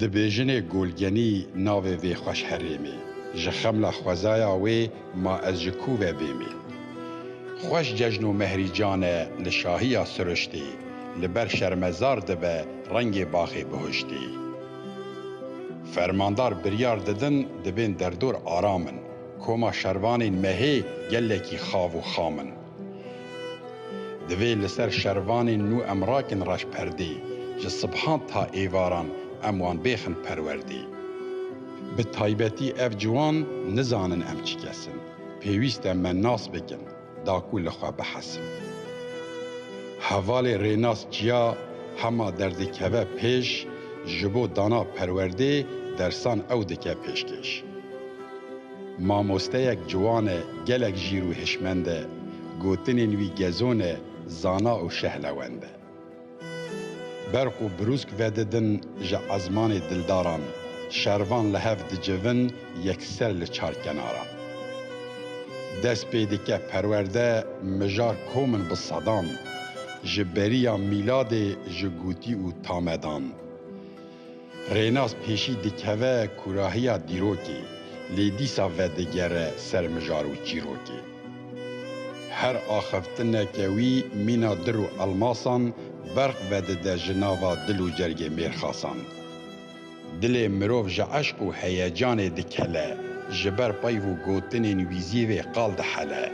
Dibêjinê Golgenî navê vê xweş herêmê, ji xemla xwezaya wê ma ez ji ku ve bêmê. Xweş cejn û mehrî can e li şahiya siruştê, li ber şermezar dibe rengê baxê bihuştê. Fermandar biryar didin dibên derdor aram in, koma şervanên mehê gelekî xav û xam in. Divê li ser şervanên nû em rakin reş perdê, ji sibhan ta êvaran em wan bêxin perwerdê. Bi taybetî ev ciwan nizanin em çi kes in, pêwîst e me nas bikin, da ku li xwe bihesin. Hevalê rênas çiya hema derdikeve pêş, ji bo dana perwerdê dersan ew dike pêşkêş. Mamosteyek ciwan e, gelek jîr û hişmend e, gotinên wî gezon e, zana û şehlewend e. Berq û brûsk vedidin ji ezmanê dildaran, şervan li hev dicivin yekser li çarkenaran. Dest pê dike perwerde mijar komin bi sedan, ji beriya mîladê ji gotî û tamedan. Rênas pêşî dikeve kurahiya dîrokê, lê dîsa vedigere ser mijar û çîrokê. Her axiftineke wî mîna dir û elmasan berq vedide ji nava dil û cergê mêrxasan. Dilê mirov ji eşq û heyecanê dikele, ji ber peyv û gotinên wî zî vê qal dihele.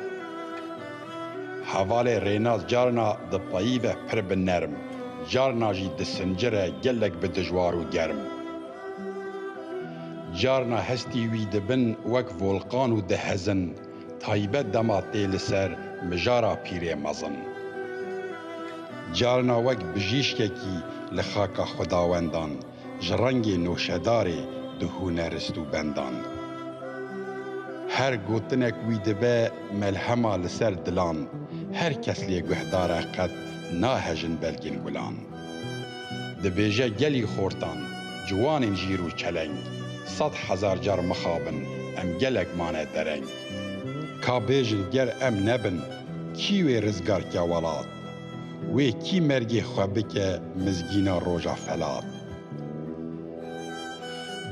Hevalê Rênaz carna di payî ve pir bi nerm, carna jî di sincir e gelek bi dijwar û germ. Carna hestî wî di bin wek volqan û dihezin, taybet dema tê li ser mijara pîrê mezin. Carna wek bijîşkekî li xaka xwedawendan, ji rengê noşedarê di hunerist û bendan. Her gotinek wî dibe melhema li ser dilan, her kes lê guhdar e qet nahejin belgên gulan. Dibêje gelî xortan, ciwanên jîr û çeleng, sed hezar car mixabin em gelek mane dereng. Ka bêjin ger em nebin, kî wê rizgar ke welat? Wê kî mergê xwe bike mizgîna roja felat.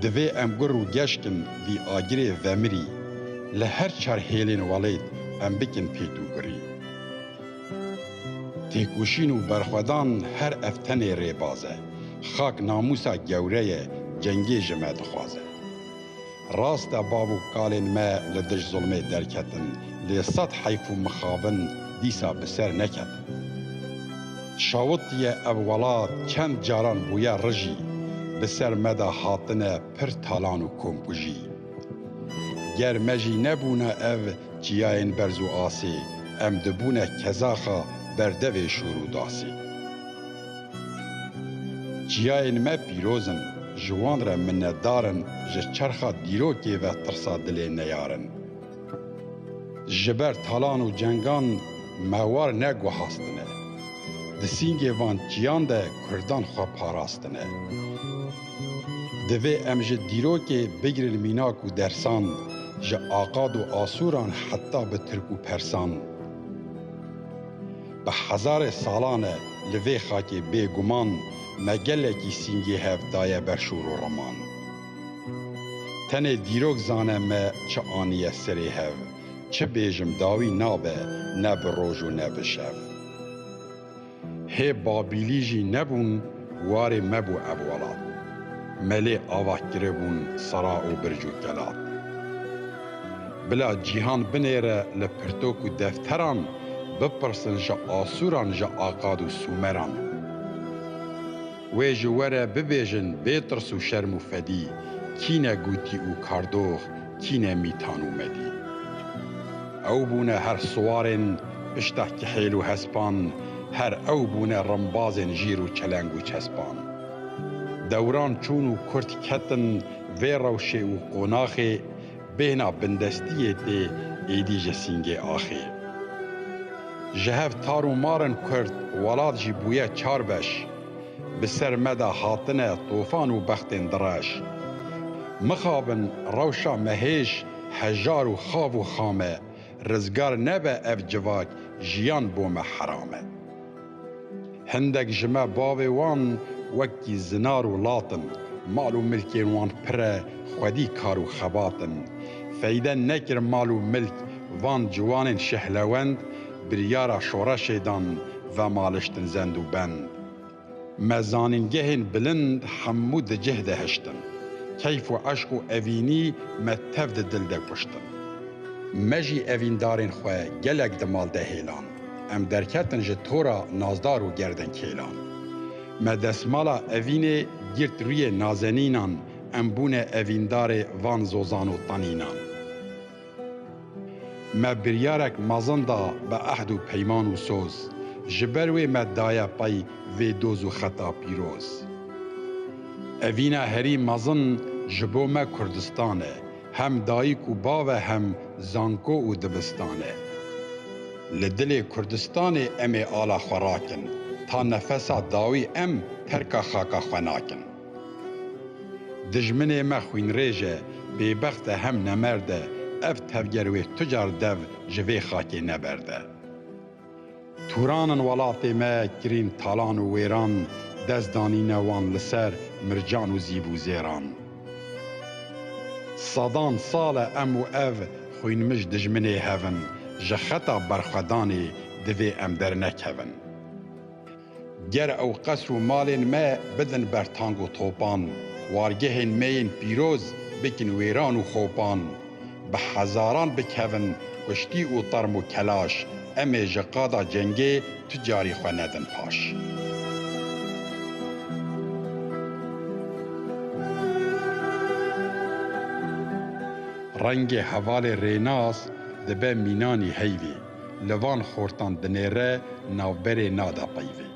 Divê em gur û geşk in vî agirê vemirî, li her çar hêlên welêt em bikin pêtûgurî. Têkoşîn û berxwedan her ev tenê rêbaz e. Xak namûsa gewre ye, cengê ji me dixwaze. Rast e bav û kalên me li dij zulmê derketin, lê sed heyf û mixabin dîsa bi ser neketin. Şawitiye ev welat çend caran bûye rijî, bi ser me de hatine pir talan û komkujî. Ger me jî nebûna ev çiyayên berz û asê, em dibûne kezaxa berdevê şûr û dasê. Çiyayên me pîroz in, ji wan re minnetdar in ji çerxa dîrokê ve tirsa dilê neyarin. Ji ber talan û cengan me war ne guhastine. Di sîngê van çiyan de kurdan xwe parastine. Divê em ji dîrokê bigirin mînak û dersan, ji aqad û asûran heta bi tirk û persan. Bi hezarê salan e li vê xakê bê guman me gelekî sîngê hev daye ber şor û riman. Tenê dîrok zane me çi aniye serê hev, çi bêjim dawî nabe ne bi roj û ne bi şev. Hê Babîlî jî nebûn warê me bû ev welat. Me lê ava kiribûn sera û birc û kelat. Bila cîhan binêre li pirtok û defteran, bipirsin ji Asûran, ji Akad û Sûmeran. Wê ji we re bibêjin bê tirs û şerm û fedî, kî ne Gûtî û Kardox, kî ne Mîtan û Medî. Ew bûne her siwarên pişta kihêl û hespan, her ew bûne rimbazên jîr û çeleng û çespan. Dewran çûn û kurt ketin vê rewşê û qonaxê, Bêhna bindestiyê tê êdî ji Sîngê axê. Ji hev tar û mar in kurd, welat jî bûye çar beş. Bi ser me de hatine tofan û bextên direş. Mixabin rewşa me hêj, hejar û xav û xam e. Rizgar nebe ev civak, jiyan bo me heram e. Hindek ji me bavê wan wekî zinar û lat in. Mal û milkên wan pir e, xwedî kar û xebat in. Feyde nekir mal û milk van ciwanên şehlewend, biryara şoreşê dan vemaliştin zend û bend. Me zanîngehên bilind hemû di cih de hiştin. Keyf û eşq û evînî me tev di dil de kuştin. Me jî evîndarên xwe gelek di mal de hêland. Em derketin ji tora nazdar û gerdenkêlan. Me desmala evînê girt rûyê nazenînan, em bûne evîndarê van zozan û tanînan. Me biryarek mezin da bi ehd û peyman û soz, ji ber wê me daye pey vê doz û xeta pîroz. Evîna herî mezin ji bo me Kurdistan e. Hem dayik û bav e hem zanko û divistan e. Li dilê Kurdistanê em ê ala xwe rakin, ta nefesa dawî em terka xaka xwe nakin. Dijminê me xwînrêj e, bêbext e hem nemerd e, ev tevger wê tu car dev ji vê xakê neberde. Turan in welatê me kirîn talan û wêran dest danîne wan li ser mircan û zîv û zêran. Sedan sal e em û ev xwînmij dijminê hev in, ji xeta berxwedanê divê em dernekevin. Ger ew qesr û malên me bidin ber tang û topan, wargehên me yên pîroz bikin wêran û xopan. Bi hezaran bikevin kuştî û term û kelaş, em ê ji qada cengê tu carî xwe nedin paş. Rengê hevalê rênas dibe mînanî heyvê. Li van xortan binêre navberê nada peyvê.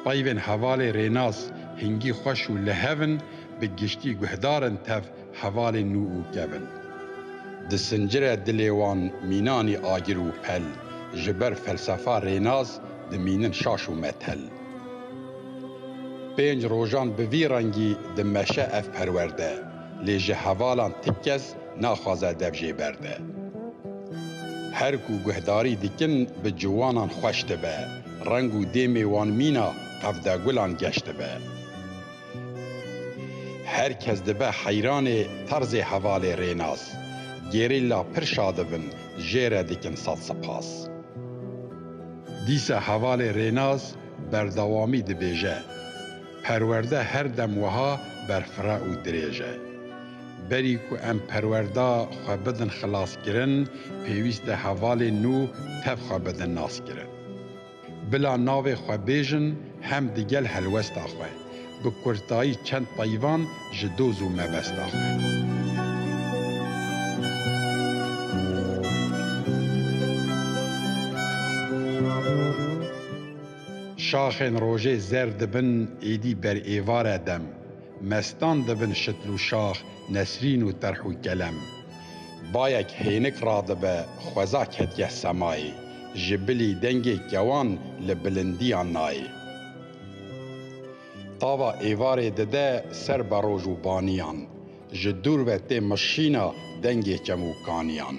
Peyvên hevalê rênas hingî xweş û lihev in, bi giştî guhdar in tev hevalên nû û kev in. Disincire dilê wan mînanî agir û pel, ji ber felsefa rênas dimînin şaş û methel. Pênc rojan bi vî rengî dimeşe ev perwerde. Lê ji hevalan ti kes naxwaze dev jê berde. Her ku guhdarî dikin bi ciwanan xweş dibe, reng û dêmê wan mîna qevdegulan geş dibe. Her kes dibe heyranê terzê hevalê Rênas. Gerîlla pir şadib in, jê re dikin sed sipas. Dîsa hevalê Rênas berdewamî dibêje, Perwerde her dem wiha berfira û dirêj e. Berî ku em perwerda xwe bidin xilaskirin, pêwîst e hevalên nû tev xwe bidin naskirin. Bila navê xwe bêjin hem di gel helwesta xwe, bi kurtayî çend peyvan ji doz û mebesta xwe. Şaxên rojê zer dibin êdî ber êvar e dem. Mestan dibin şitl û şax nesrîn û terh û kelem. Bayek hênik radibe xweza ketiye semayê. Ji bilî dengê kewan li bilindiyan nayê. Tava êvarê dide ser beroj û baniyan. Ji dûr ve tê mişîna dengê çemûkaniyan.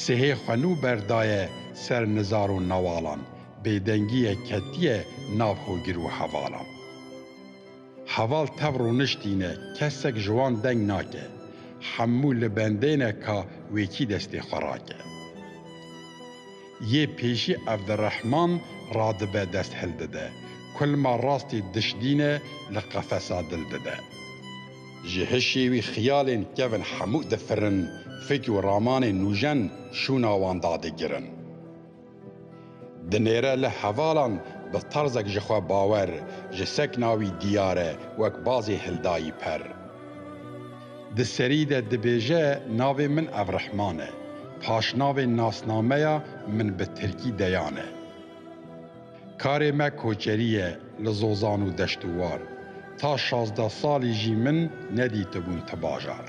Sihê xwe nû berdaye ser nizar û newalan, bêdengiyê ketiye nav hogir û hevalan. Heval tev rûniştî ne, kesek ji wan deng nake, hemû li bendê ne ka wêkî destê xwe rake. Yê pêşî Evdirehman radibe dest hildide, kulma rastî dişdîne li qefesa dil dide. Ji hişê wî xiyalên kevn hemû difirin, fik û ramanên nûjen şûna wan dadigirin. Dinêre li hevalan bi tarzek ji xwe bawer, ji sekna wî diyar e, wek bazê hildayî per. Di serî de dibêje navê min Evrehman e, paşnavê nasnameya min bi tirkî Deyan e. Karê me koçerî ye li Zozan û Deştûwar. Ta şazdeh salî jî min nedîtibûn ti bajar.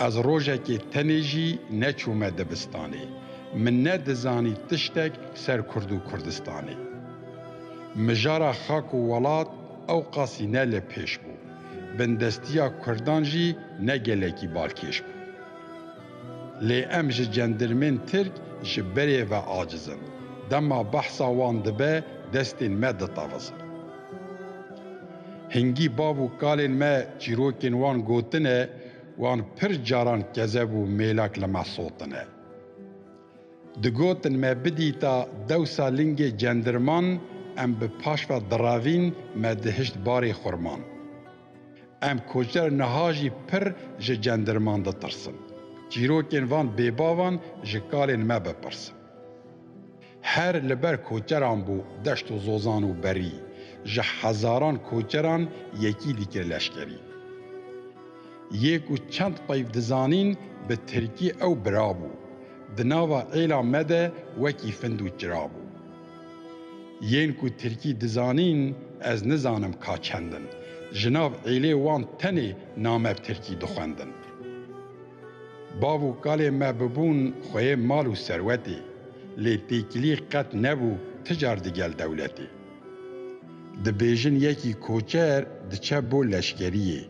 Ez rojekê tenê jî neçûme dibistanê. Min ne dizanî tiştek ser Kurd û Kurdistanê. Mijara xak û welat ewqasî ne li pêş bû. Bindestîya Kurdan jî ne gelekî balkêş bû. Lê em ji cendirmên Tirk ji berê ve aciz in. Dema behsa wan dibe destên me ditewizin. Hingî bav û kalên me çîrokên wan gotine, wan pir caran kezeb û mêlak li me sotine. Digotin me bidîta dewsa lingê cendirman em bi paş ve direvîn me dihişt barê xurman. Em koçber niha jî pir ji cendirman ditirsin. Çîrokên van bêbavan ji kalên me bipirsin. Her li ber koçeran bû deşt û zozan û berî, ji hezaran koçeran yekî dikir leşkerî. Yê ku çend peyv dizanîn bi tirkî ew bira bû. Di nava êla me de wekî find û çira bû. Yên ku tirkî dizanîn ez nizanim ka çend in. Ji nav êlê wan tenê name bi tirkî dixwendin. Bav û kalên me bibûn xweyê mal û serwetê, lê têkilî qet nebû ti car digel dewletê. Dibêjin yekî koçer diçe bo leşkeriyê.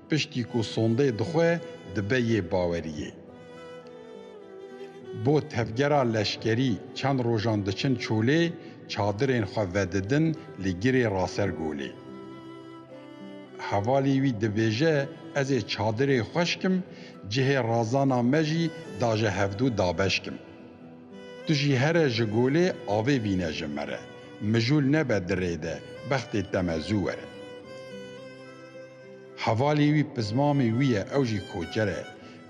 Piştî ku sondeyê dixwe dibe yê baweriyê. Bo tevgera leşkerî çend rojan diçin Çolê, çadirên xwe vedidin li girê Rasergolê. Hevalî wî dibêje ez ê çadirê xwe şkim, cihê razana me jî da ji hevdu dabeşkim. Tu jî here ji golê avê vîne ji me re, mijûl nebe dirê de, bextê te me zû were. Hevalê wî pizmamê wî ye, ew jî koçer e.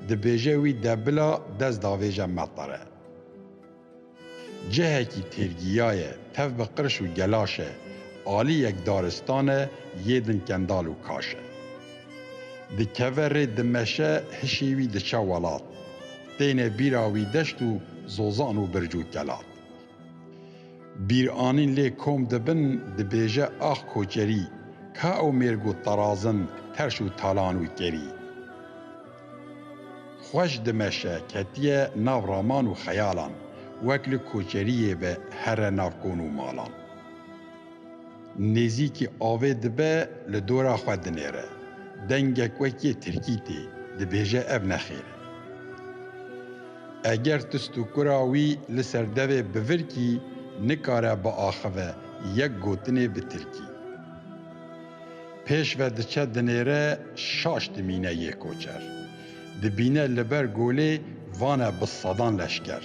Dibêje wî de bila dest davêje metare. Cihekî têrgîya ye, tev bi qirş û gelaş e. Alî yek daristan e, yê din kendal û kaş e. Dikeve rê dimeşe, hişê wî diçe welat. Têne bîra wî deşt û zozan û birc û kelat. Bîranîn lê kom dibin dibêje ax koçerî, ka ew mêrg û terazin, terş û talan û kerî. Xweş dimeşe, ketiye nav raman û xeyalan, wek li koçeriyê ve here nav kon û malan. Nêzîkî avê dibe li dora xwe dinêre. Dengek wekî tirkî tê, dibêje ev nexêr e. Eger tu stûkura wî li ser devê bivirkî nikare biaxive yek gotinê bi tirkî. Pêş ve diçe dinêre şaş dimîne yê koçer. Dibîne li ber golê vane bi sedan leşker.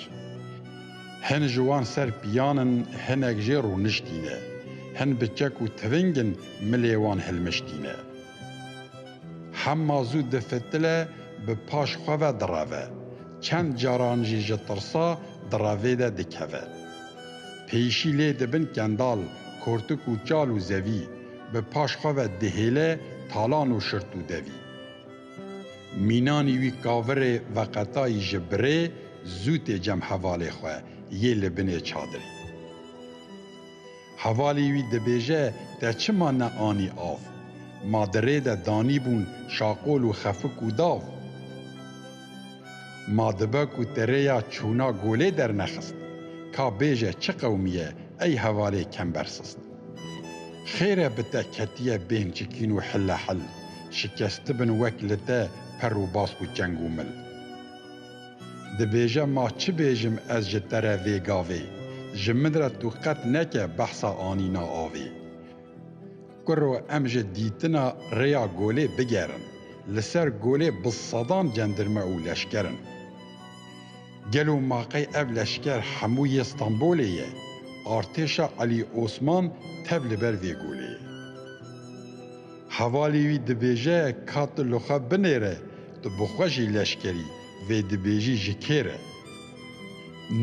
Hin ji wan ser piyan in hinek jê rûniştîne. Hin bi çek û tiving in milê wan hilmiştîne. Hema zû di fitile bi paş xwe ve direve. Çend caran jî ji tirsa di revê de dikeve. Pêşî lê dibin kendal, kortik û çal û zevî. Bi paş xwe ve dihêle talan û şirt û devî. Mînanî wî kavirê veqetayî ji birê zû tê cem hevalê xwe yê li binê çadirî. Hevalî wî dibêje te çima ne anî av? Ma di rê de danîbûn şaqol û xefik û dav. Ma dibe ku ti rêya çûna golê dernexist. Ka bêje çi qewmî ye ey hevalê kembersist. Xêr e bi te ketiye bên çikîn û hilehil, şikestibin wek li te per û bask û çeng û mil. Dibêje ma çi bêjim ez ji te re vê gavê, ji min re tu qet neke behsa anîna avê. Kuro em ji dîtina rêya Golê bigerin. Li ser Golê bi sedan cendirme û leşker in. Gelo ma qey ev leşker hemû yê Stenbolê ye? Artêşa Elî Osman tev li ber vê golê ye. Hevalê wî dibêje ka tu li xwe binêre, tu bi xwe jî leşker î, vê dibêjî ji kê re?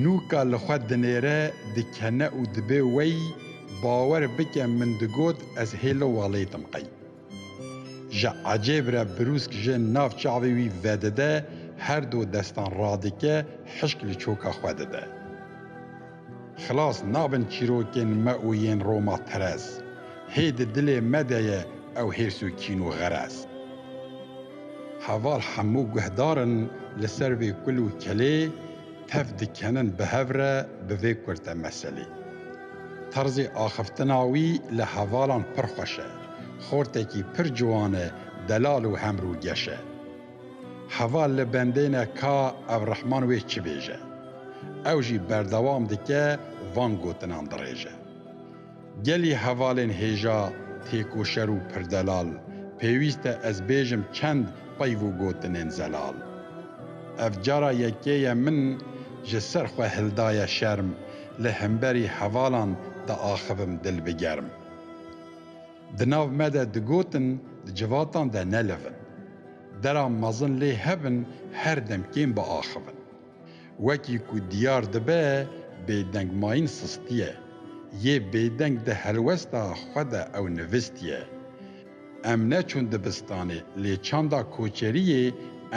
Nû ka li xwe dinêre, dikene û dibe wey, bawer bike min digot ez hê li walêtim qey. Ji ecêb re birûsk ji nav çavê wî vedide, her du destan radike, hişk li çoka xwe dide. Xilas nabin çîrokên me û yên Roma terez. Hê di dilê me de ye ew hêrs û kîn û xerez. Heval hemû guhdar in li ser vê kul û kelê, tev dikenin bi hev re bi vê kurte meselê. Terzê axiftina wî li hevalan pir xweş e. Xortekî pir ciwan e, delal û hemrûgeş e. Heval li bendêne ka ev rehman wê çi bêje. Ew jî berdewam dike van gotinan dirêje. Gelî hevalên hêja, têkoşer û pirdelal, pêwîst e ez bêjim çend peyv û gotinên zelal. Ev cara yekê ye min ji ser xwe hildaye şerm, li himberî hevalan diaxivim dil bi germ. Di nav me de digotin di civatan de nelivin. Dera mezin lê hebin her dem kêm biaxivin. Wekî ku diyar dibe bêdengmayîn sistiye. Yê bêdeng di helwesta xwe de ew nivistiye. Em neçûn dibistanê lê çanda koçeriyê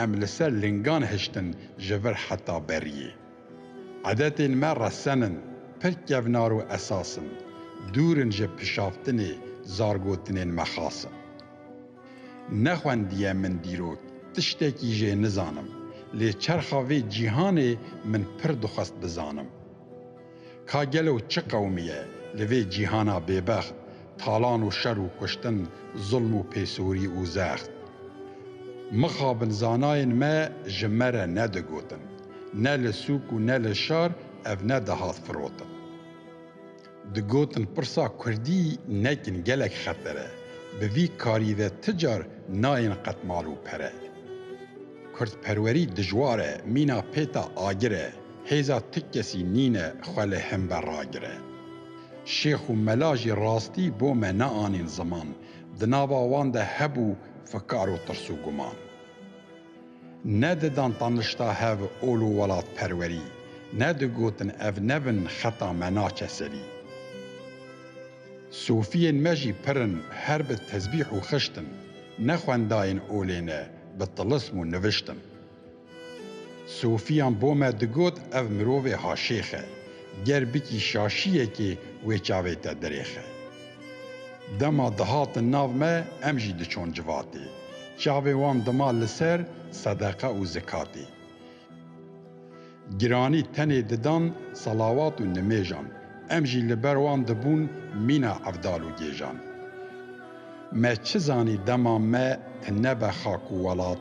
em li ser lingan hiştin ji vir heta beriyê. Edetên me resen in, pir kevnar û esas in, dûr in ji pişaftinê zargotinên me xas in. Nexwendiye min dîrok, tiştekî jê nizanim, lê çerxa vê cîhanê min pir dixwest bizanim. Ka gelo çi qewmî ye li vê cîhana bêbext, talan û şer û kuştin, zulm û pêsorî û zext? Mixabin zanayên me ji me re nedigotin. Ne li sûk û ne li şar ev ne dihat firotin. Digotin pirsa kurdî nekin gelek xeter e, bi vî karî ve ti car nayên qet mal û pere. Kurdperwerî dijwar e, mîna pêta agir e, hêza ti kesî nîne xwe li hin ve ragire. Şêx û mela jî rastî bo me neanîn ziman, di nava wan de hebû fikar û tirs û guman. Ne didan tanişta hev ol û welatperwerî, ne digotin ev ne bin xeta me naçe serî. Sofiyên me jî pir in her bi tezbîh û xişt in, ne xwendayên olê ne bi tilism û nivişt in. Sofiyan bo me digot ev mirovê haşêx e, ger bikî şaşiyekê wê çavê te dirêxe. Dema dihatin nav me em jî diçûn civatê. Çavê wan dima li ser sedeqe û zikatê. Giranî tenê didan selawat û nimêjan. Em jî li ber wan dibûn mîna evdal û gêjan. Me çi zanî dema me tinebe xak û welat,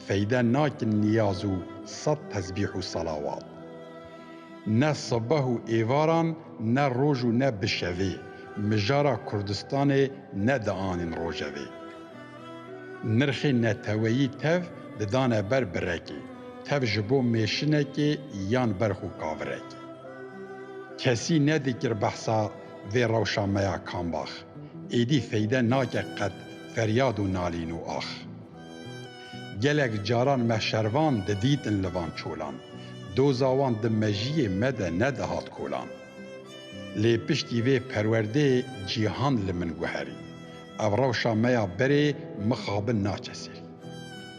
feyde nakin niyaz û sed tesbîh û selawat. Ne sebeh û êvaran, ne roj û ne bi şevê, mijara Kurdistanê ne dianîn rojevê. Nirxê neteweyî tev didane ber birekê, tev ji bo mêşinekê yan ber xwe kavirekê. Kesî nedikir behsa vê rewşa me ya kambax, êdî feyde nake qet feryad û nalîn û ax. Gelek caran me şervan didîtin li van çolan, doza wan di mejiyê me de nedihat kolan. Lê piştî vê perwerdeyê cîhan li min guherî. Ev rewşa me ya berê mixabin naçe serî.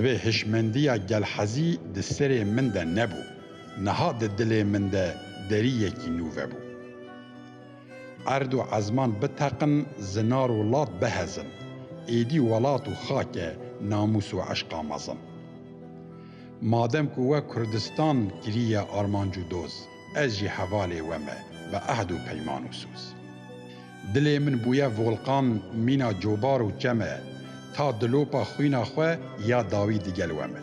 Vê hişmendiya gelhezî di serê min de nebû, niha di dilê min de derî yekî nû vebû. Erd û ezman biteqin, zinar û lat bihezin. Êdî welat û xak e, namûs û eşqa mezin. Madem ku we Kurdistan kiriye armanc û doz, ez jî hevalê we me, bi ehd û peyman û soz. Dilê min bûye volqan, mîna cobar û çem e, ta dilopa xwîna xwe ya dawî digel we me.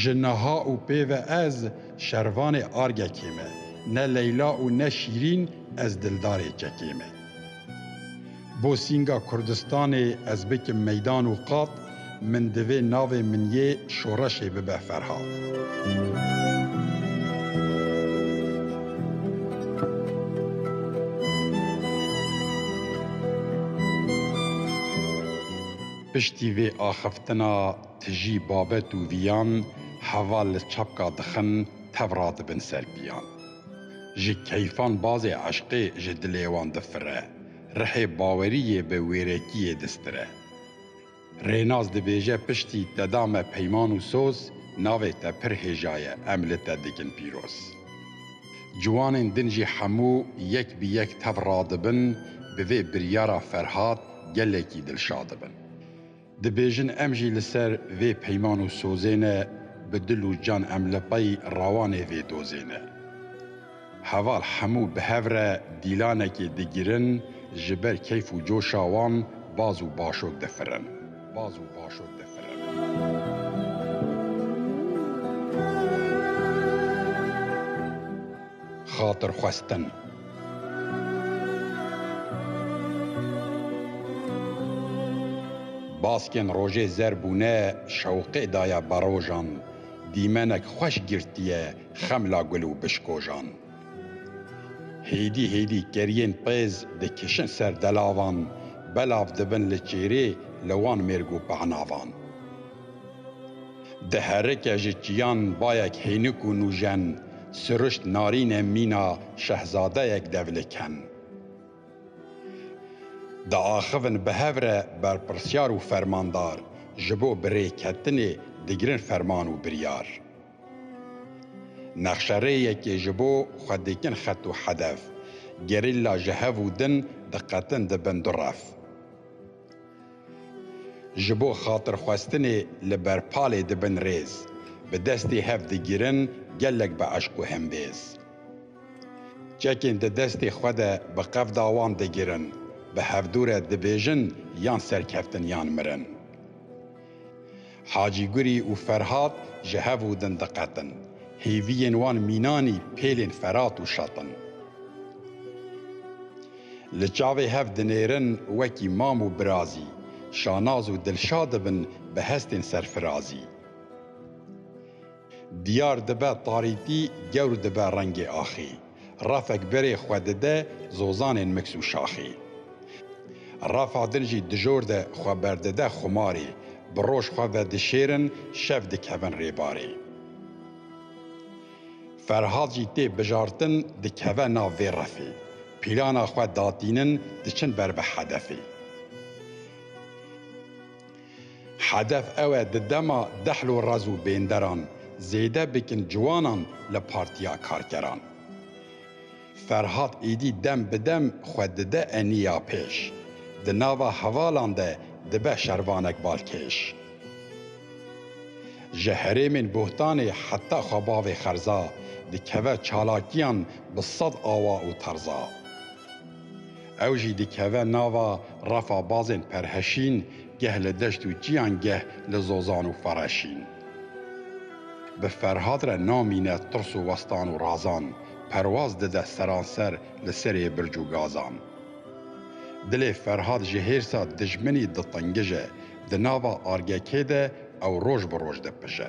Ji niha û pê ve ez, Şervanê Argekê me, ne Leyla û ne Şîrîn ez dildarê kekê me. Bo sînga Kurdistanê ez bikim meydan û qat, min divê navê min yê şoreşê bibe Ferhat. Piştî vê axiftina. Tijî babet û viyan heval li çapka dixin tev radibin ser piyan. Ji keyfan bazê eşqê ji dilê wan difire, rihê bawerî yê bi wêrekiyê distire. Rênaz dibêje piştî te da me peyman û soz, navê te pir hêja ye em li te dikin pîroz. Ciwanên din jî hemû yek bi yek tev radibin, bi vê biryara Ferhat gelekî dilşadibin. Dibêjin em jî li ser vê peyman û sozê ne bi dil û can em li pey rawanê vê dozê ne. Heval hemû bi hev re dîlanekê digirin ji ber keyf û coşa wan baz û başok difirin. Baz û başok difirin. xatir xwestin. Baskên rojê zer bûne şewqê daye berojan, dîmenek xweş girtiye xemla gul û bişkojan. Hêdî hêdî keriyên pêz dikişin ser delavan, belav dibin li çêrê li wan mêrg û pehnavan. Di herike ji çiyan bayek hênik û nûjen siruşt narîne mîna şehzadeyek dev li ken. Diaxivin bi hev re berpirsyar û fermandar ji bo birêketinê digirin ferman û biryar. Nexşerêyekê ji bo xwe dikin xet û hedef. Gerîlla ji hev û din diqetin di bin du rev. Ji bo xatirxwestinê li berpalê dibin rêz, bi destê hev digirin gelek bi eşq û hembêz. Çekên di destê xwe de bi qevda wan digirin, bi hevdûre dibêjin yan serkeftin yan mirin. Hacî Gurî û Ferhat ji hev û din diqetin. Hêviyên wan mînanî pêlên Ferat û Şat in. Li çavê hev dinêrin wekî mam û birazî. Şanaz û Dilşad dibin bi hestên serfirazî. Diyar dibe tarîtî gewr dibe rengê axî Refek berê xwe dide zozanên miks û şaxî Refa din jî dijor de xwe berdide xumarê Bi roj xwe vedişêrin şev dikevin rêbarê Ferhad jî tê bijartin dikeve nav vê refê Pîlana xwe datînin diçin ber bi hedefê. Hedef ew e di dema dehlo rez û bênderan zêde bikin ciwanan li Partiya Karkeran. Ferhat êdî dem bi dem xwe dide eniya pêş, di nava hevalan de dibe şervanek balkêş. Ji herêmên bohtanê heta xwe bavê xerza, dikeve çalakiyan bi sed awa û terza. Ew jî dikeve nava refa bazên perheşîn, geh li deşt û çiyan geh li zozan û fereşîn. Bi Ferhat re namîne tirs û westan û razan, perwaz dide seranser li serê birc û gazan. Dilê Ferhat ji hêrsa dijminî ditingije, di nava argekê de ew roj bi roj dipije.